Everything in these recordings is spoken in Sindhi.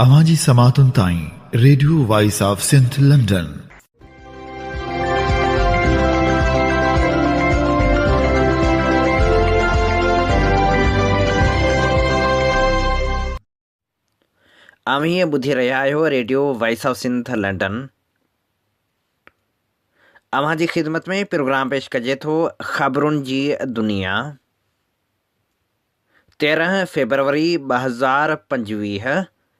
اوهان جي سماعتن تائين radio voice of Sindh London. اوهين ٻڌي رهيا آهيو radio voice of Sindh London. اوهان جي خدمت ۾ پروگرام پيش ڪجي ٿو خبرن جي دنيا. تيرهن فيبروري ٻه هزار پنجويهه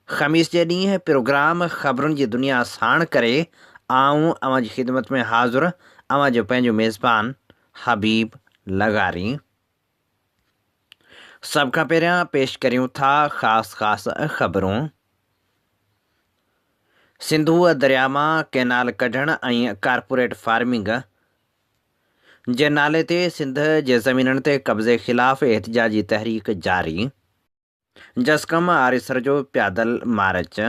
خميس جي ڏينهن پروگرام خبرن جي دنيا ساڻ ڪري آئون اوهان جي خدمت ۾ حاضر اوهان جو پنهنجو ميزبان حبيب لغاري سڀ کان پهريان پيش ڪريون ٿا خاص خاص خبرون سنڌوء درياء مان ڪينال ڪڍڻ ۽ ڪارپوريٽ فارمنگ جي نالي تي سنڌ جي زمينن تي قبضي خلاف احتجاجي تحريڪ جاري، جسقم آريسر جو پيادل مارچ،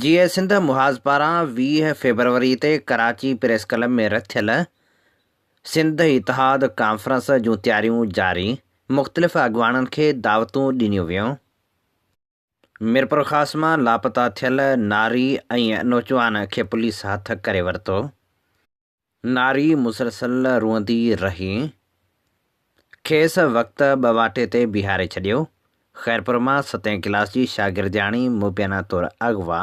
جيئي سنڌ محاذ پاران ويهه فيبروري تي ڪراچي پريس ڪلب ۾ رٿيل سنڌ اتحاد ڪانفرنس جون تياريون جاري، مختلف اڳواڻن کي دعوتون ڏنيون ويون. ميرپورخاص مان لاپتا ٿيل ناري ۽ نوجوان کي پوليس هٿ ڪري ورتو، ناري مسلسل روئندي رهي کيس وقت ٻواٽي تي بيهاري ڇڏيو، خيرپور مان ستين ڪلاس جي شاگردياڻي مبينا طور اغوا،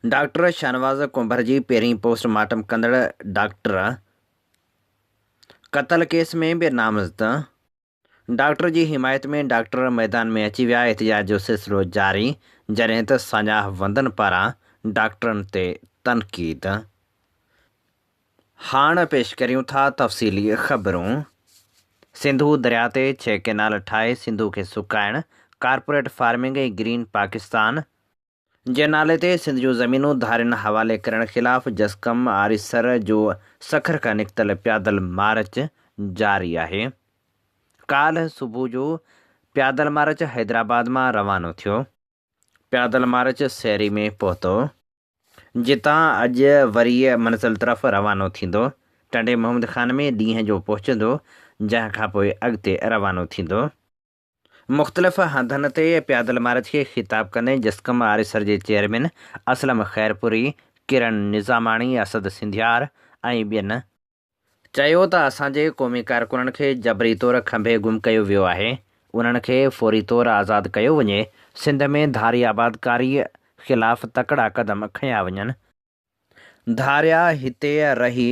ڊاڪٽر شاهنواز ڪنڀر جي پهرين پوسٽ مارٽم ڪندڙ ڊاڪٽر قتل ڪيس ۾ به نامزد، ڊاڪٽر جي حمايت ۾ ڊاڪٽر ميدان ۾ اچي ويا، احتجاج جو سلسلو جاري، جڏهن ته ساڃاهه وندن پاران ڊاڪٽرن تي تنقيد. هاڻ پيش ڪريون ٿا تفصيلي خبرون. سنڌو درياء تي ڇهه ڪئنال ٺاهي سنڌو کي سڪائڻ، ڪارپوريٽ فارمنگ ۽ گرين پاڪستان، جي نالي تي سنڌ جون زمينون ڌارين حوالي ڪرڻ خلاف جسقم آريسر جو سکر کان نڪتل پيادل مارچ جاري آهي. ڪالهه صبح جو پيادل مارچ حيدرآباد مان روانو ٿيو. پيادل مارچ سيري ۾ پهتو. جتان اڄ وري منزل طرف روانو ٿيندو. ٽنڊي محمد خان ۾ ڏينهن جو پهچندو جنهن کانپوء اڳتي روانو ٿيندو. مختلف هنڌن تي پيادل مارچ کي خطاب ڪندي جسقم آريسر جي چيئرمين اسلم خيرپوري، ڪرن نظاماڻي، اسد سنڌيار ۽ ٻين، چيو ته اسان جي قومي ڪارڪنن کي جبري طور کنڀي گم ڪيو ويو آهي، انهن کي فوري طور آزاد ڪيو وڃي، سنڌ ۾ ڌاري آبادڪاري خلاف تڪڙا قدم کنيا وڃن، ڌاريا هتي رهي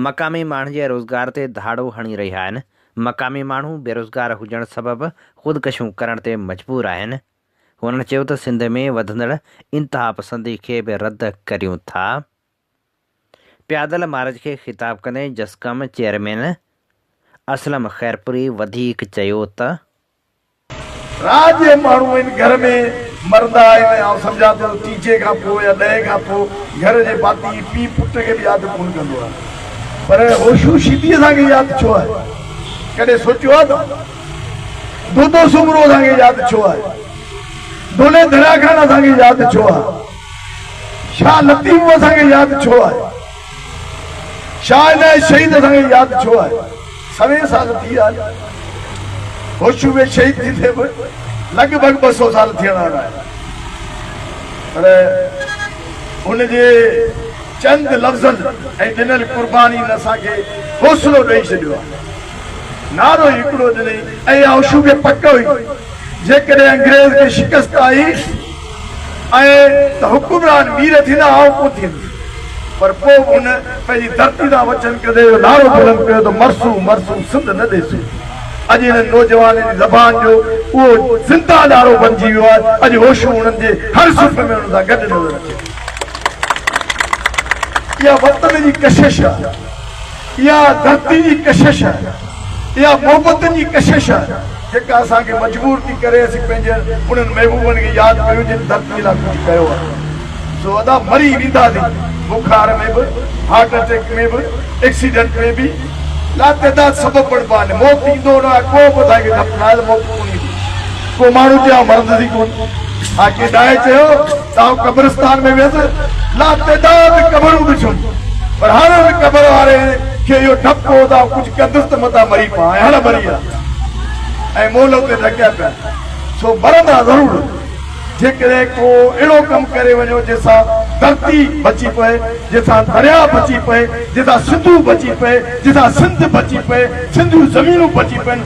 مقامي ماڻهن جي روزگار تي ڌاڙو هڻي رهيا آهن، مقامي ماڻهو بيروزگار هجڻ سبب خودڪشيون ڪرڻ تي مجبور آهن، هنن چيو ته سنڌ ۾ وڌندڙ انتهاپسندي کي به رد ڪريون ٿا، پيادل مارچ کي خطاب ڪندي جسقم چيئرمين اسلم خيرپوري وڌيڪ چيو ته. رات جو ماڻهو ان گهر ۾ مردا آهن ۽ آئون سمجهان ٿو ته چيجهي کان پوء يا ڏهين کان پوء گهر جي ڀاتي هي پيء پٽ کي به ياد ڪونه ڪندو آهي. پر هوشو شيدي اسان کي ياد ڇو آهي؟ ڪڏهن سوچيو آهي توهان؟ دودو سومرو اسان کي ياد ڇو آهي؟ دولي دريا خان اسان کي ياد ڇو آهي؟ شاهه لطيف اسان کي ياد ڇو آهي؟ شاهه نائين شهيد اسان کي ياد ڇو آهي سوين سال ٿي ويا آهن هوشو ۾ شهيد ٿي ٿي به لڳ ڀڳ ٻه سو سال ٿيڻ وارا آهن پر ان جي چند لفظن ۽ ڏنل قربانين اسان کي حوصلو ڏئي ڇڏيو آهي نعرو ئي هڪڙو ڏني اي هوشو کي پڪ هئي جيڪڏهن انگريز کي شڪست آئي ۽ ته حڪمران مير ٿيندا آئون ڪونه ٿيندس پر پوء به هن پنهنجي ڌرتي تان وچن ڪندي اهو نعرو بلند ڪيو ته مرسون مرسون سنڌ نه ڏيسون اڄ انهن نوجوانن جي زبان جو اهو زنده نعرو بنجي ويو آهي اڄ هوشون انهن جي هر صفحي ۾ انهن سان گڏ نظر اچي ٿيون اها وطن جي ڪشش آهي اها ڌرتي جي ڪشش آهي، اها محبتن جي ڪشش آهي، جيڪا اسان کي مجبور ٿي ڪري اسين پنهنجن انهن محبوبن کي ياد ڪريون جن ڌرتي لاء ڪجهه ڪيو آهي. سو ادا مري وينداسين، بخار ۾ به، هارٽ اٽيڪ ۾ به، ايڪسيڊنٽ ۾ به، لاتعداد سبب بڻبا آهن، موت ايندو نه آهي، ڪو به اسان کي دفنائل موت ڪونهي ايندي. ڪو ماڻهو جيان ورندس ئي ڪونه. خاڪي ڏاهي چيو ته آئون قبرستان ۾ ويس لاتعداد قبرون ڏٺيون پر هر هر قبر واري کي اهو ڊپ هو ته آئون ڪجهه ڪندس ته متان مري پوان ۽ هڙ مري هلان ۽ مئل اتي ڍڪيا پيا سو مرندا ضرور جيڪڏهن ڪو اهڙو ڪم ڪري وڃو جنهن سان ڌرتي بچي پئي جنهن سان درياء بچي پئي جنهن سان سنڌو بچي پئي جنهن سان سنڌ بچي پئي سنڌيون زمينون بچي پين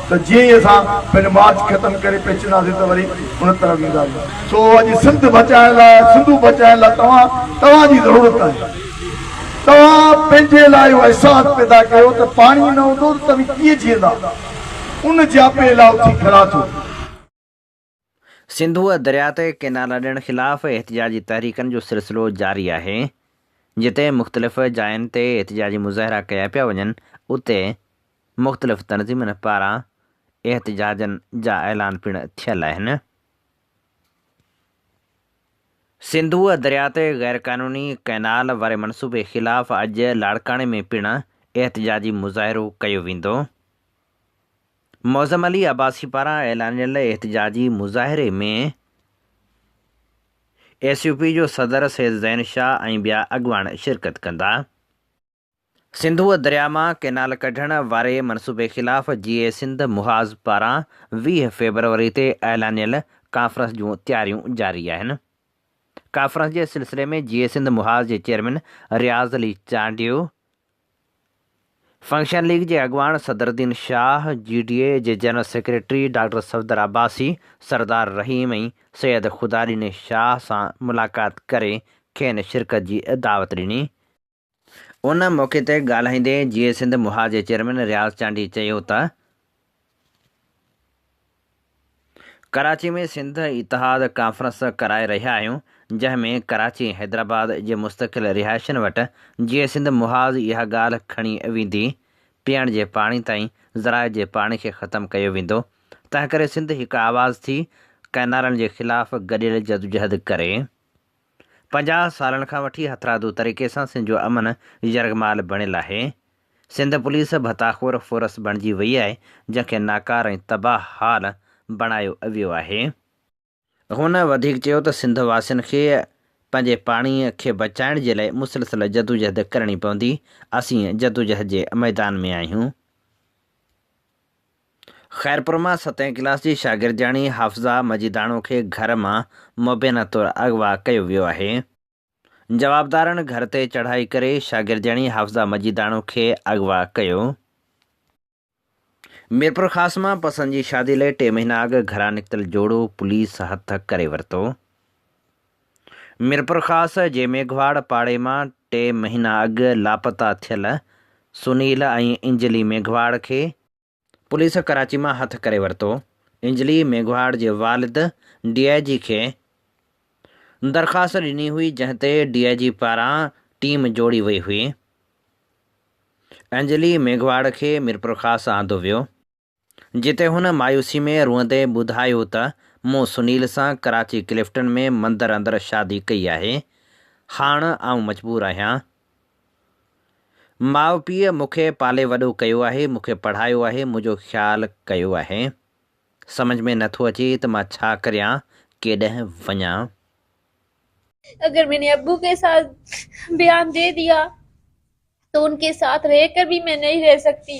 ته جيئن ئي اسان پنهنجو مارچ ختم ڪري پهچنداسين ته وري ان طرف وينداسين. سو اڄ سنڌ بچائڻ لاء، سنڌو بچائڻ لاء توهان، توهان جي ضرورت آهي. توهان پنهنجي لاء اهو احساس پيدا ڪيو ته پاڻي نه هوندو ته توهين ڪيئن جيئندا. ان جياپي لاء اٿي کڙا ٿيو. سنڌوء درياء تي ڪئنالا ڏيڻ خلاف احتجاجي تحريڪن جو سلسلو جاري آهي. جتي مختلف جاين تي احتجاجي مظاهرا ڪيا پيا وڃن، اتي مختلف تنظيمن پاران احتجاجن جا اعلان پڻ ٿيل آهن. سنڌوء درياء تي غيرقانوني ڪئنال واري منصوبي خلاف اڄ لاڙڪاڻي ۾ پڻ احتجاجي مظاهرو ڪيو ويندو. معظم علي عباسي پاران اعلانيل احتجاجي مظاهري ۾ ايس يو پي جو صدر سيد زين شاهه ۽ ٻيا اڳواڻ شرڪت ڪندا. سنڌوء درياء مان ڪئنال ڪڍڻ واري منصوبي خلاف جي اي سنڌ محاذ پاران ويهه فيبروري تي اعلانيل ڪانفرنس جون تياريون جاري آهن. ڪانفرنس جي سلسلي ۾ جي اي سنڌ محاذ جي chairman Riaz Ali Chandio, function league جي اڳواڻ صدرالدين شاهه، جي ڊي اي جي general secretary doctor Safdar Abbasi, سردار رحيم ۽ سيد خداڏيني شاهه سان ملاقات ڪري کين شرڪت جي دعوت ڏني. ان موقعي تي ڳالهائيندي جي اي سنڌ مها جي چيئرمين رياض چانڊيي چيو ته ڪراچي ۾ سنڌ اتحاد ڪانفرنس ڪرائي رهيا آهيون جنهن ۾ ڪراچي ۽ حيدرآباد جي مستقل رهائشين وٽ جيئي سنڌ محاذ اها ڳالهه کڻي ويندي پيئڻ جي پاڻي تائين ذرائع جي پاڻي کي ختم ڪيو ويندو تنهنڪري سنڌ هڪ آواز ٿي ڪئنالن جي خلاف گڏيل جدوجهد ڪري. پنجاهه سالن کان وٺي هٿرادو طريقي سان سنڌ جو امن يرغمال بڻيل آهي. سنڌ پوليس ڀتاخور فورس بڻجي وئي آهي جنهن کي ناڪاره ۽ تباهه حال بڻايو اويو آهي. هن وڌيڪ چيو ته سنڌ واسين کي پنهنجي پاڻي کي بچائڻ جي لاء مسلسل جدوجهد ڪرڻي پوندي، اسين جدوجهد جي ميدان ۾ آهيون. خيرپور مان ستين ڪلاس جي شاگردياڻي حافظه مجيداڻو کي گهر مان مبينا طور اغوا ڪيو ويو آهي، جوابدارن گهر تي چڙهائي ڪري شاگردياڻي حافظه مجيداڻو کي اغوا ڪيو. ميرپورخاص مان پسند جي شادي لئي ٽي مهينا اڳ گهران نڪتل جوڙو پوليس هٿ ڪري ورتو. ميرپورخاص جي ميگهواڙ پاڙي مان ٽي مهينا اڳ لاپتا ٿيل سنيل ۽ انجلي ميگهواڙ کي پوليس ڪراچي مان هٿ ڪري ورتو، انجلي ميگهواڙ جي والد ڊي آء جي کي درخواست ڏني هئي جنهن تي ڊي آء جي پاران ٽيم جوڙي وئي هئي، انجلي ميگهواڙ کي ميرپورخاص آندو ويو، جتي هن مايوسي ۾ روئندي ٻڌايو ته مون سنيل سان ڪراچي ڪلفٽن ۾ مندر اندر شادي ڪئي آهي، هاڻ آئون مجبور آهيان ماء پيء مون کي پالي وڏو ڪيو آهي، مون کي پڙهايو آهي، منهنجو خيال ڪيو آهي. سمجهه ۾ نه ٿو اچي ته مان ڇا ڪريان، ڪيڏنهن وڃان. اگر مين نے ابو کے ساتھ بيان دے ديا تو ان کے ساتھ رہ کر بھي مين نھين رھ سکتي.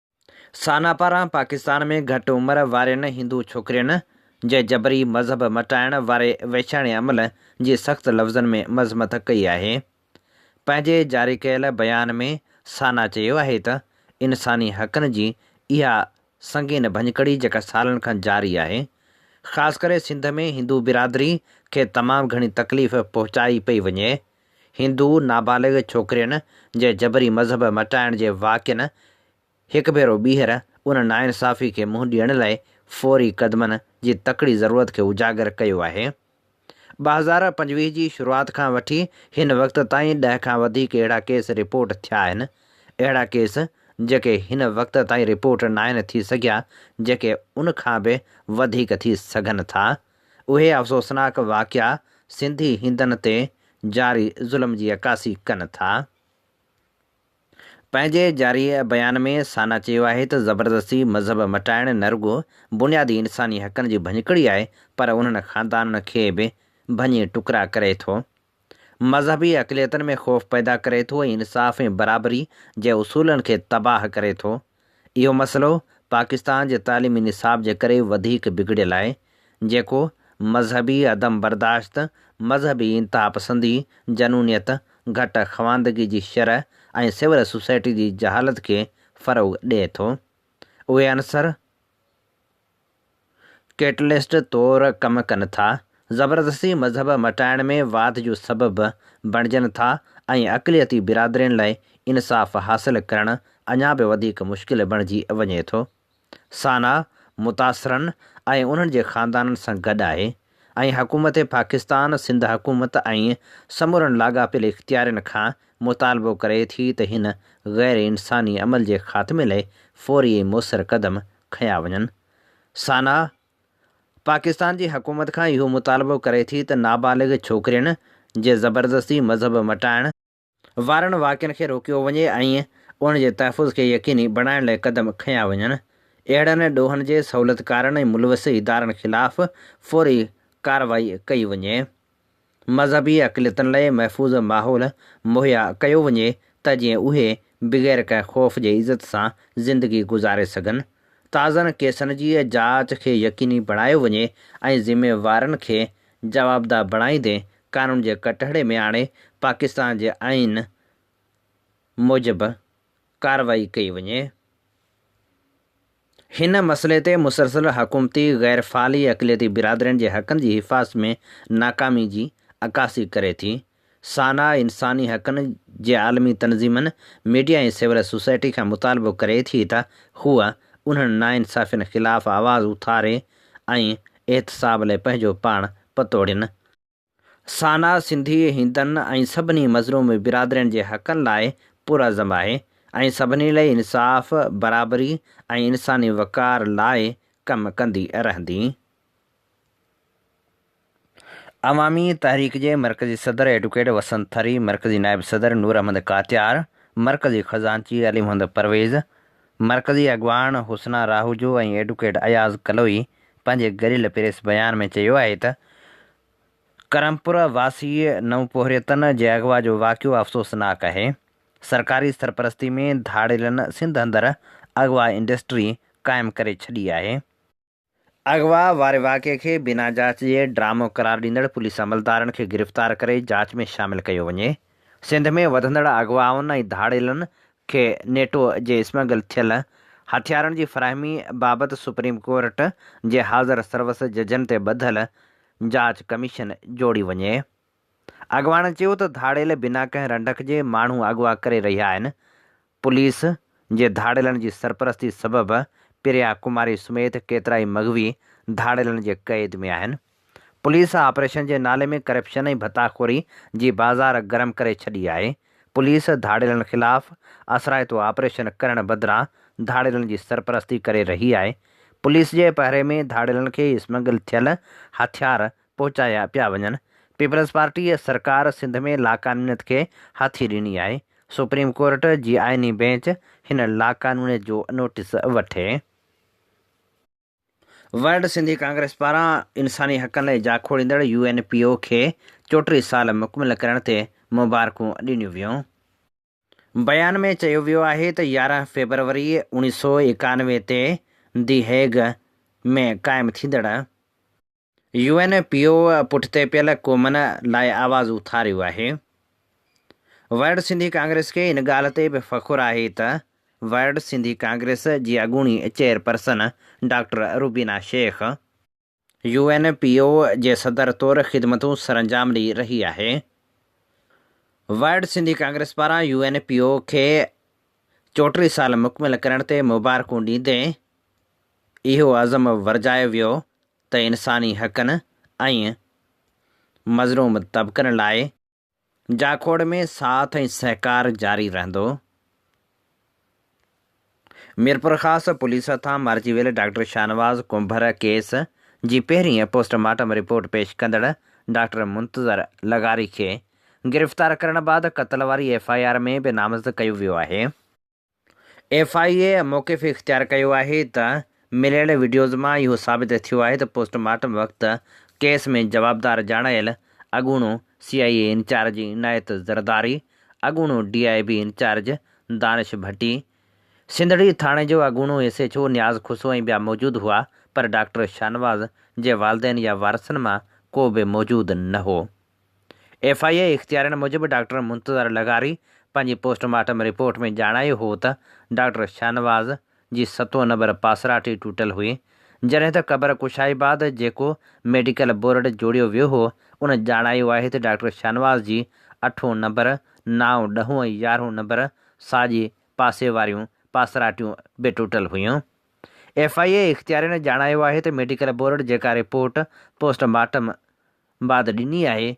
سانا پاران پاڪستان ۾ گهٽ عمر وارين هندو ڇوڪرين جي جبري مذهب مٽائڻ واري وحشاڻي عمل جي سخت لفظن ۾ مذمت ڪئي آهي. پنهنجي جاري ڪيل بيان ۾ سانا چيو آهي ته انساني حقن جي اها سنگين ڀڃڪڙي جيڪا سالن کان جاري آهي، خاص ڪري سنڌ ۾ هندو برادري کي تمام گهڻي تڪليف پهچائي پئي وڃي، هندو نابالغ ڇوڪرين جي جبري مذهب مٽائڻ جي واقعن هڪ ڀيرو ٻيهر ان ناانصافي کي منهن ڏيڻ لاء فوري قدمن جي تڪڙي ضرورت کي اجاگر ڪيو آهي. ٻه هزار پنجويهه جي شروعات کان وٺي هن وقت تائين ڏهه کان وڌيڪ اهڙا ڪيس رپورٽ ٿيا آهن، اهڙا ڪيس جيڪي هن وقت تائين رپورٽ ناهن ٿي سگهيا جيڪي ان کان به وڌيڪ ٿي سگهن ٿا. اهي افسوسناڪ واقعا سنڌي هندن تي جاري ظلم جي عڪاسي ڪن ٿا. پنهنجي جاري بيان ۾ سانا چيو آهي ته زبردستي مذهب مٽائڻ نه رڳو بنيادي انساني حقن جي ڀڃڪڙي آهي پر انهن خاندانن کي به ڀڃي ٽڪرا ڪري ٿو. مذهبي اقليتن ۾ خوف پيدا ڪري ٿو ۽ انصاف ۽ برابري جي اصولن کي تباهه ڪري ٿو. اهو مسئلو پاڪستان جي تعليمي نصاب جي ڪري وڌيڪ بگڙيل آهي، جيڪو مذهبي عدم برداشت، مذهبي انتهاپسندي، جنونيت، گهٽ خواندگي جي شرح ۽ سول سوسائٽي جي جهالت کي فروغ ڏئي ٿو. اهي عنصر ڪيٽلسٽ طور ڪم ڪن ٿا، زبردستي مذهب مٽائڻ ۾ واڌ جو سبب بڻجن ٿا ۽ اقليتي برادرين لاء انصاف حاصل ڪرڻ اڃا به وڌيڪ مشڪل بڻجي وڃي ٿو. سانا متاثرن ۽ انهن جي خاندانن سان گڏ آهي ۽ حڪومت پاڪستان، سنڌ حڪومت ۽ سمورن لاڳاپيل اختيارين کان مطالبو ڪري ٿي ته هن غير انساني عمل جي خاتمي لاء فوري ۽ موثر قدم کنيا وڃن. سانا، پاڪستان جي حڪومت کان اهو مطالبو ڪري ٿي ته نابالغ ڇوڪرين جي زبردستي مذهب مٽائڻ، وارن واقعن کي روڪيو وڃي ۽ ان جي تحفظ کي يقيني بڻائڻ لاء قدم کنيا وڃن، اهڙن ڏوهن جي سهولتڪارن ۽ ملوث ادارن خلاف فوري ڪارروائي ڪئي وڃي. مذهبي اقليتن لاء محفوظ ماحول مهيا ڪيو وڃي ته جيئن اهي بغير ڪنهن خوف جي عزت سان زندگي گذاري سگهن، تازن ڪيسن جي جاچ کي يقيني بڻايو وڃي ۽ ذميوارن کي جوابده بڻائيندي قانون جي ڪٽهڙي ۾ آڻي پاڪستان جي آئين موجب ڪارروائي ڪئي وڃي. هن مسئلي تي مسلسل حڪومتي غير فعالي اقليتي برادرين جي حقن جي حفاظت ۾ ناڪامي جي عڪاسي ڪري ٿي. سانا انساني حقن جي عالمي تنظيمن، ميڊيا ۽ سول سوسائٽي کان مطالبو ڪري ٿي ته هوء انهن ناانصافين خلاف آواز اٿاري ۽ احتساب لاء پنهنجو پاڻ پتوڙين ۽ سانا سنڌي هندن ۽ سڀني مظلوم برادرين جي حقن لاء پرعزم آهي ۽ سڀني لئي انصاف، برابري ۽ انساني وقار لاء ڪم ڪندي رهندي. عوامي تحريڪ جي مرڪزي صدر ايڊوڪيٽ وسنت ٿري، مرڪزي نائب صدر نور احمد ڪاتيار، مرڪزي خزانچي علي محمد پرويز، مرڪزي اڳواڻ حسنا راهوجو ۽ ايڊوڪيٽ اياز ڪلوئي پنهنجي گريل پريس بيان ۾ چيو آهي ته ڪرمپوره واسيء نوپورهيتن جي اغوا جو واقعو افسوسناڪ آهي، سرڪاري سرپرستي ۾ ڌاڙيلن سنڌ اندر اغوا انڊسٽري قائم ڪري ڇڏي آهي، اغوا واري واقعي کي بنا جاچ جي ڊرامو قرار ڏيندڙ پوليس عملدارن کي گرفتار ڪري جاچ ۾ شامل ڪيو وڃي، سنڌ ۾ وڌندڙ اغوائن ۽ ڌاڙيلن کي نيٽو جي اسمگل ٿيل هٿيارن جي فراهمي بابت سپريم ڪورٽ جي حاضر سروس ججن تي ٻڌل جاچ ڪميشن جوڙي وڃي. اڳواڻن چيو ته ڌاڙيل بنا ڪنهن رنڊڪ جي ماڻهو اغوا ڪري رهيا آهن، پوليس جي ڌاڙيلن جي سرپرستي سبب پريا ڪماري سميت ڪيترائي مغوي ڌاڙيلن جي قيد ۾ آهن، پوليس آپريشن جي نالي ۾ ڪرپشن ۽ ڀتا خوري جي بازار گرم ڪري ڇڏي آهي، پوليس ڌاڙيلن خلاف اثرائتو آپريشن ڪرڻ بدران ڌاڙيلن جي سرپرستي ڪري رهي آهي، پوليس جي پهري ۾ ڌاڙيلن کي اسمگل ٿيل هٿيار پهچايا پيا وڃن، پيپلزپارٽيء سرڪار سنڌ ۾ لاقانونيت کي هاٿي ڏني آهي، سپريم ڪورٽ جي آئيني بينچ هن لاقانونيت جو نوٽيس وٺي. ورلڊ سنڌي ڪانگريس پاران انساني حقن لاء جاکوڙيندڙ يو اين پي او کي چوٽيهه سال مڪمل ڪرڻ تي مبارڪون ڏنيون ويون. بيان ۾ چيو ويو آهي ته يارهن فيبروري اڻيهه سؤ ايڪانوي تي دي هيگ ۾ قائم ٿيندڙ يو اين پي او پٺتي پيل قومن لاء آواز اٿاريو آهي، ورلڊ سنڌي ڪانگريس کي ان ڳالهه تي به فخر آهي ته ورلڊ سنڌي ڪانگريس جي اڳوڻي chairperson doctor Rubina Shaikh U N P O جي صدر طور خدمتون سرانجام ڏئي رهي آهي، ورلڊ سنڌي ڪانگريس پاران يو اين پي او کي چوٽيهه سال مڪمل ڪرڻ تي مبارڪون ڏيندي اهو عزم ورجايو ويو ته انساني حقن ۽ مظلوم طبقن لاء جاکوڙ ۾ ساٿ ۽ سهڪار جاري رهندو. ميرپورخاص پوليس هٿان مارجي ويل ڊاڪٽر شاهنواز ڪنڀر ڪيس جي پهرين پوسٽ مارٽم رپورٽ پيش ڪندڙ ڊاڪٽر منتظر لغاري کي گرفتار ڪرڻ بعد قتل واري ايف آء آر ۾ به نامزد ڪيو ويو آهي. ايف آء اي موقف اختيار ڪيو آهي ته مليل وڊيوز مان اهو ثابت ٿيو آهي ته پوسٽ مارٽم وقت ڪيس ۾ جوابدار ڄاڻايل اڳوڻو سي آء اي انچارج عنايت زرداري، اڳوڻو D I B incharge Danish Bhutto, Sindhri ٿاڻي جو اڳوڻو S H O Niaz Khoso ۽ ٻيا موجود هئا پر ڊاڪٽر شاهنواز جي والدين يا وارثن مان ڪو به موجود نه هو. ايف آء اي اختيارين موجب ڊاڪٽر منتظر لغاري پنهنجي پوسٽ مارٽم رپورٽ ۾ ڄاڻايو هو ته ڊاڪٽر شاهنواز جي ستون نمبر پاسراٽي ٽٽل هئي جڏهن ته قبر ڪشائي بعد جيڪو ميڊيڪل بورڊ جوڙيو ويو هو ان ڄاڻايو آهي ته ڊاڪٽر شاهنواز جي اٺون نمبر، نائون، ڏهون ۽ يارهون نمبر ساڄي پاسي واريون پاسراٽيون به ٽٽل هيون. ايف آء اي اختيارين ڄاڻايو آهي ته ميڊيڪل بورڊ جيڪا رپورٽ پوسٽ مارٽم بعد ڏني آهي،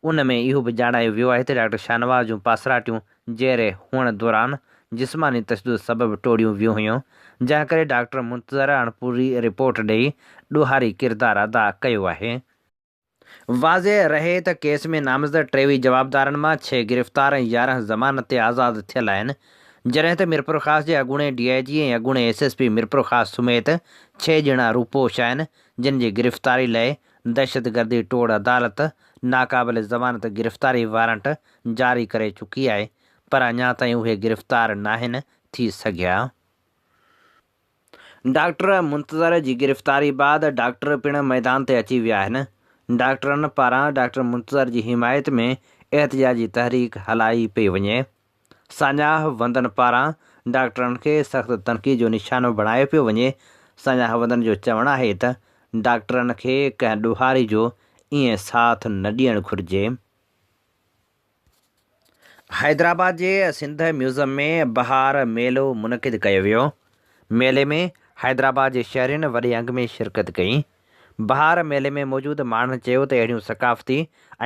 ان ۾ اهو به ڄاڻايو ويو آهي ته ڊاڪٽر شاهنواز جون پاسراٽيون جيئري هئڻ دوران جسماني تشدد سبب ٽوڙيون ويون هيون، جنهن ڪري ڊاڪٽر منتظر اڻپوري رپورٽ ڏئي ڏوهاري ڪردار ادا ڪيو آهي. واضح رهي ته ڪيس ۾ نامزد ٽيوي جوابدارن مان ڇهه گرفتار ۽ يارهن ضمانت تي آزاد ٿيل آهن، جڏهن ته ميرپورخاص جي اڳوڻي ڊي آء جي ۽ اڳوڻي ايس ايس پي ميرپورخاص سميت ڇهه ڄڻا روپوش آهن، جن جي گرفتاري لئي دهشتگردي ٽوڙ عدالت ناقابل ضمانت گرفتاري وارنٽ جاري ڪري چڪي آهي پر اڃا تائين اهي گرفتار ناهن ٿي سگهيا. ڊاڪٽر منتظر جي گرفتاري بعد ڊاڪٽر پڻ ميدان تي اچي ويا آهن. ڊاڪٽرن پاران ڊاڪٽر منتظر جي حمايت ۾ احتجاجي تحريڪ هلائي پئي وڃي. ساڃاهه وندن پاران ڊاڪٽرن کي سخت تنقيد جو نشانو بڻايو پيو وڃي، ساڃاهه وندن جو چوڻ آهي ته ڊاڪٽرن کي ڪنهن ڏوهاري جو ائين ساٿ نه ڏيڻ گهرجي. حيدرآباد جي سنڌ ميوزم ۾ بهار ميلو منعقد ڪيو ويو، ميلي ۾ حيدرآباد جي شهرين وڏي انگ ۾ شرڪت ڪئي، بهار ميلي ۾ موجود ماڻهن چيو ته اهڙيون ثقافتي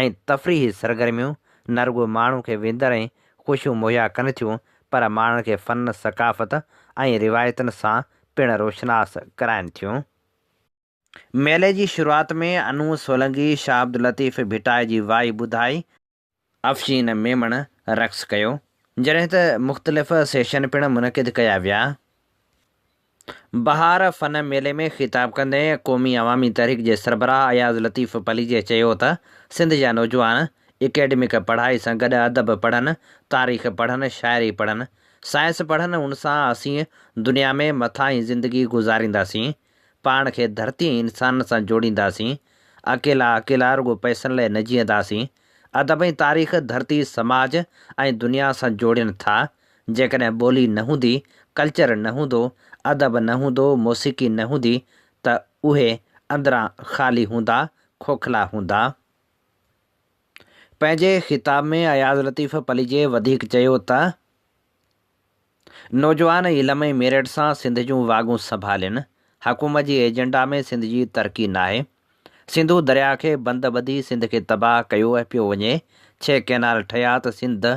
۽ تفريحي سرگرميون نه رڳو ماڻهو کي وندر ۽ خوشيون مهيا ڪن ٿيون پر ماڻهن کي فن، ثقافت ۽ روايتن سان پڻ روشناس ڪرائن ٿيون. ميلي جي شروعات ۾ انوء سولنگي شاهه عبداللطيف ڀٽائي جي وائي ٻڌائي. افشين ميمڻ رقص ڪيو، جڏهن ته مختلف سيشن پڻ منعقد ڪيا ويا. بهار فن ميلي ۾ خطاب ڪندي قومي عوامي تحريڪ جي سربراهه اياز لطيف پليجي چيو ته سنڌ جا نوجوان اڪيڊمڪ پڙهائي سان گڏ ادب پڙهن، تاريخ پڙهن، شاعري پڙهن، سائنس پڙهن، ان سان اسين دنيا ۾ مٿاهين زندگي گذارينداسين. پاڻ کي ڌرتي ۽ انسانن سان جوڙينداسين، اڪيلا اڪيلا رڳو پئسن لاء نه جيئنداسين. ادب ۽ تاريخ ڌرتي، سماج ۽ دنيا سان جوڙين ٿا. جيڪڏهن ٻولي نه هوندي، ڪلچر نه هوندو، ادب نه هوندو، موسيقي نه هوندي ته اهي اندران خالي هوندا، کوکلا هوندا. پنهنجي خطاب ۾ اياز لطيف پليجي وڌيڪ چيو ته. نوجوان علم ۽ ميرٽ سان سنڌ جون واڳون سنڀالين، حڪومت جي ايجنڊا ۾ سنڌ جي ترقي ناهي، سنڌو درياء کي بند ٻڌي سنڌ کي تباهه ڪيو پيو وڃي، ڇهه ڪئنال ٺهيا ته سنڌ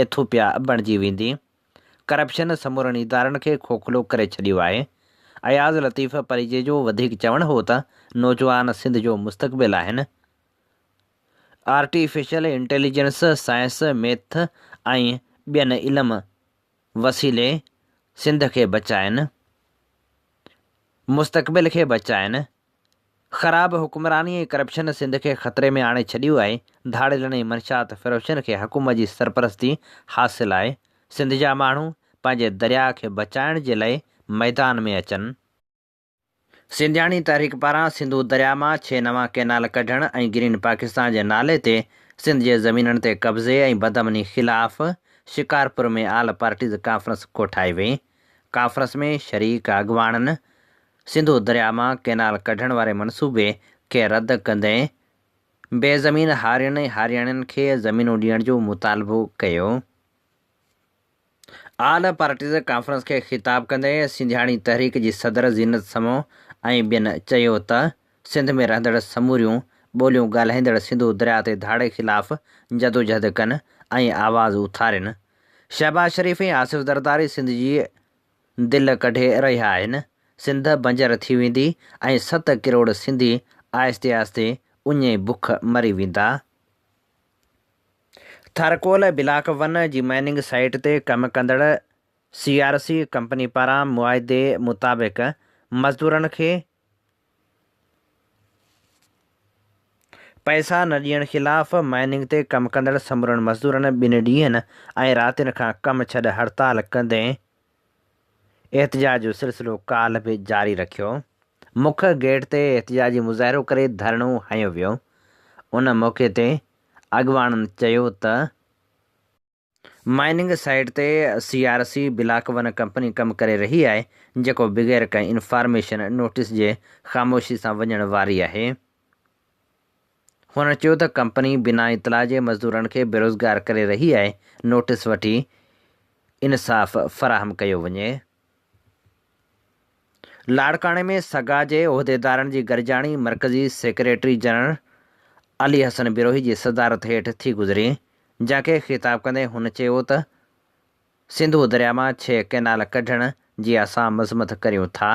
ايٿوپيا بڻجي ويندي، ڪرپشن سمورن ادارن کي کوکلو ڪري ڇڏيو آهي، اياز لطيف پريجي جو وڌيڪ چوڻ هو ته نوجوان سنڌ جو مستقبل آهن، آرٽيفيشل انٽيليجنس، سائنس، ميٿ ۽ ٻين علم وسيلي سنڌ کي بچائين، مستقبل کي بچائين، خراب حڪمراني ۽ ڪرپشن سنڌ کي خطري ۾ آڻي ڇڏيو آهي، ڌاڙيلن ۽ منشيات فروشن کي حڪومت جي سرپرستي حاصل آهي، سنڌ جا ماڻهو پنهنجي درياء کي بچائڻ جي لئي ميدان ۾ اچن. سنڌياڻي تحريڪ پاران سنڌو درياء مان ڇهه نوان ڪئنال ڪڍڻ ۽ گرين پاڪستان جي نالي تي سنڌ جي زمينن تي قبضي ۽ بدامني خلاف شڪارپور ۾ آل پارٽيز ڪانفرنس ڪوٺائي وئي، ڪانفرنس ۾ شريڪ اڳواڻن سنڌو درياء مان ڪئنال ڪڍڻ واري منصوبي کي رد ڪندي بي زمين هارين ۽ هارياڻين کي زمينون ڏيڻ جو مطالبو ڪيو. آل پارٽيز ڪانفرنس کي خطاب ڪندي سنڌياڻي تحريڪ جي صدر زينت سمون ۽ ٻين چيو ته سنڌ ۾ رهندڙ سموريون ٻوليون ڳالهائيندڙ سنڌو درياء تي ڌاڙي خلاف جدوجهد ڪن ۽ آواز اٿارين، شهباز شريف ۽ آصف زرداري سنڌ جي دل ڪڍي رهيا آهن، سنڌ بنجر ٿي ويندي ۽ ست ڪروڙ سنڌي آهستي آهستي اڃي بک مري ويندا. ٿرڪول بلاڪ ون جي مائننگ سائيٽ تي ڪم ڪندڙ سي آر سي ڪمپني پاران معاهدي مطابق مزدورن کي پئسا نه ڏيڻ خلاف مائننگ تي ڪم ڪندڙ سمورن مزدورن ٻن ڏينهن ۽ راتين کان ڪم ڇڏ هڙتال ڪندي احتجاج جو سلسلو ڪالهه به جاري رکيو. مک گيٽ تي احتجاجي مظاهرو ڪري ڌرڻو هنيو ويو. ان موقعي تي اڳواڻن چيو ته. مائننگ سائيٽ تي C R C block one company ڪم ڪري رهي آهي جيڪو بغير ڪنهن انفارميشن نوٽيس جي خاموشي سان وڃڻ واري آهي. هن چيو ته ڪمپني بنا اطلاع جي مزدورن کي بيروزگار ڪري رهي آهي، نوٽيس وٺي انصاف فراهم ڪيو وڃي. لاڙڪاڻي ۾ سگا جي عهديدارن جي گڏجاڻي مرڪزي سيڪريٽري جنرل علي حسن بروهي جي صدارت هيٺ ٿي گذري، جنهن کي خطاب ڪندي هن چيو ته، سنڌو درياء مان ڇهه ڪئنال ڪڍڻ جي اسان مذمت ڪريون ٿا،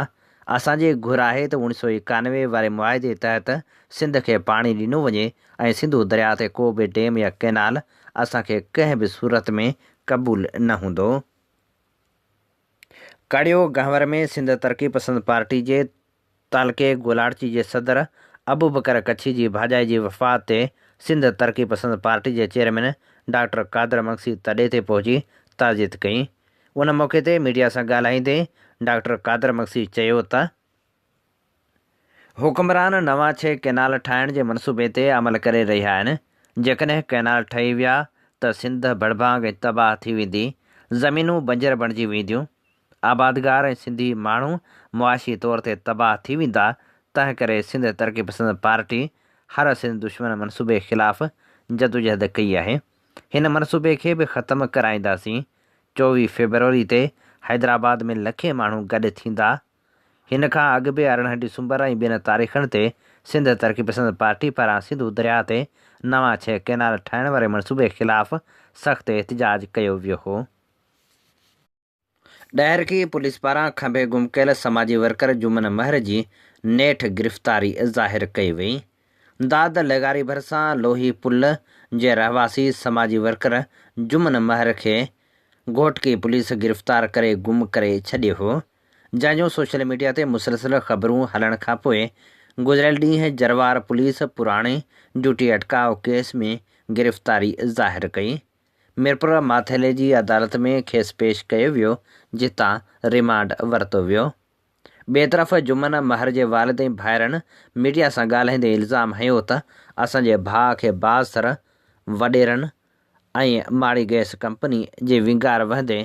اسان جي گهر آهي ته اوڻ سؤ ايڪانوي واري معاهدي تحت سنڌ کي پاڻي ڏنو وڃي ۽ سنڌو درياء تي ڪو به ڊيم يا ڪئنال اسان کي ڪنهن به صورت ۾ قبول نه هوندو. ڪڙيو گهنور ۾ سنڌ ترقي پسند پارٽي جي تعلقي گولاڙچي جي صدر ابوبڪر ڪڇي جي ڀاڄائي جي وفات تي سنڌ ترقي پسند پارٽي جي چيئرمين ڊاڪٽر قادر مگسي تڏي تي پهچي تعزيت ڪئي. ان موقعي تي ميڊيا سان ڳالهائيندي ڊاڪٽر قادر مگسي چيو ته حڪمران نوان ڇهه ڪئنال ٺاهڻ جي منصوبي تي عمل ڪري رهيا آهن، جيڪڏهن ڪئنال ٺهي ويا ته سنڌ ڀڙڀانگ ۽ تباهه ٿي ويندي، زمينون بنجر بڻجي وينديون. آبادگار ۽ سنڌي ماڻهو معاشي طور تي تباهه ٿي ويندا، تنهنڪري سنڌ ترقي پسند پارٽي هر سنڌ دشمن منصوبي خلاف جدوجهد ڪئي آهي، هن منصوبي کي به ختم ڪرائينداسين، چوويهه فيبروري تي حيدرآباد ۾ لکين ماڻهو گڏ ٿيندا، هن کان اڳ به ارڙهن ڊسمبر ۽ ٻين تاريخن تي سنڌ ترقي پسند پارٽي پاران سنڌو درياهه تي نوان ڇهه ڪئنال ٺاهڻ واري منصوبي خلاف سخت احتجاج ڪيو ويو هو. ڏاهرڪي پوليس پاران کنڀي گم ڪيل سماجي ورڪر جمن مهر جي نيٺ گرفتاري ظاهر ڪئي وئي. داد لغاري ڀرسان لوهي پل جي رهواسي سماجي ورڪر جمن مهر کي گهوٽڪي پوليس گرفتار ڪري گم ڪري ڇڏيو هو، جنهن جون سوشل ميڊيا تي مسلسل خبرون هلڻ کانپوء گذريل ڏينهن جروار پوليس پراڻي جوٽي اٽڪاء ڪيس ۾ گرفتاري ظاهر ڪئي. ميرپور ماٿيلي جي عدالت ۾ کيس پيش ڪيو ويو جتان ريمانڊ ورتو ويو. ٻئي طرف جمن مهر جي والد ۽ ڀائرن ميڊيا سان ڳالهائيندي الزام هنيو ته اسان جي ڀاء کي باز سر وڏيرن ۽ ماڙي گئس ڪمپني جي وينگار وهندي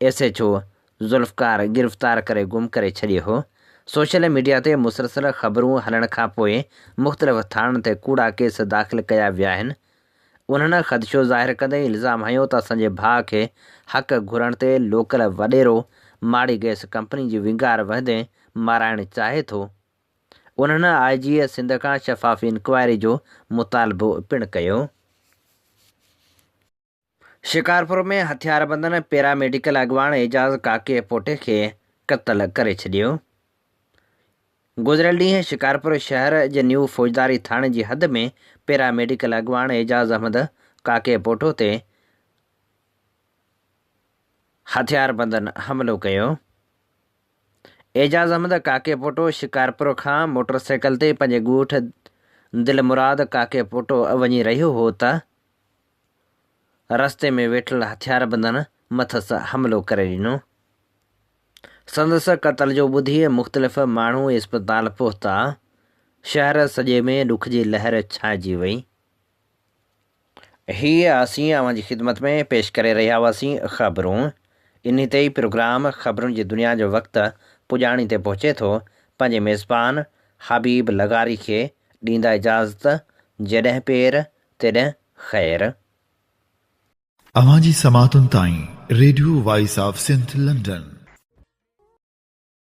ايس ايڇ او ذوالفقار گرفتار ڪري گم ڪري ڇڏيو هو سوشل ميڊيا تي مسلسل خبرون هلڻ کانپوء مختلف ٿاڻن تي ڪوڙا ڪيس داخل ڪيا ويا آهن انهن خدشو ظاهر ڪندي الزام هنيو ته اسان جي ڀاء کي حق گهرڻ تي لوڪل وڏيرو ماڙي گئس ڪمپني جي ونگار وهندي مارائڻ چاهي ٿو. انهن آء جيء سنڌ کان شفاف انڪوائري جو مطالبو پڻ ڪيو. شڪارپور ۾ هٿياربندن پيراميڊيڪل اڳواڻ اعجاز ڪاڪي پوٽي کي قتل ڪري ڇڏيو. گذريل ڏينهن شڪارپور شهر جي نيو فوجداري ٿاڻي جي حد ۾ پيرا ميڊيڪل اڳواڻ اعجاز احمد ڪاڪي پوٽو تي هٿياربندن حملو ڪيو. اعجاز احمد ڪاڪي پوٽو شڪارپور کان موٽرسائيڪل تي پنهنجي ڳوٺ دلمراد ڪاڪي پوٽو وڃي رهيو هو ته رستي ۾ ويٺل هٿياربندن مٿس حملو ڪري ڏنو. سندس قتل جو ٻڌي مختلف ماڻهو اسپتال پهتا. شهر سڄي ۾ ڏک جي لهر ڇانئجي وئي. هيء اسين اوهان جي خدمت ۾ پيش ڪري رهيا هئاسين خبرون. انهي تي ئي پروگرام خبرون جي دنيا جو وقت پڄاڻي تي پهچي ٿو. پنهنجي ميزبان حبيب لغاري کي ڏيندا اجازت، جڏهن پير تڏهن خير آ. اوهان جي سماعتن تائين radio voice of Sindh London.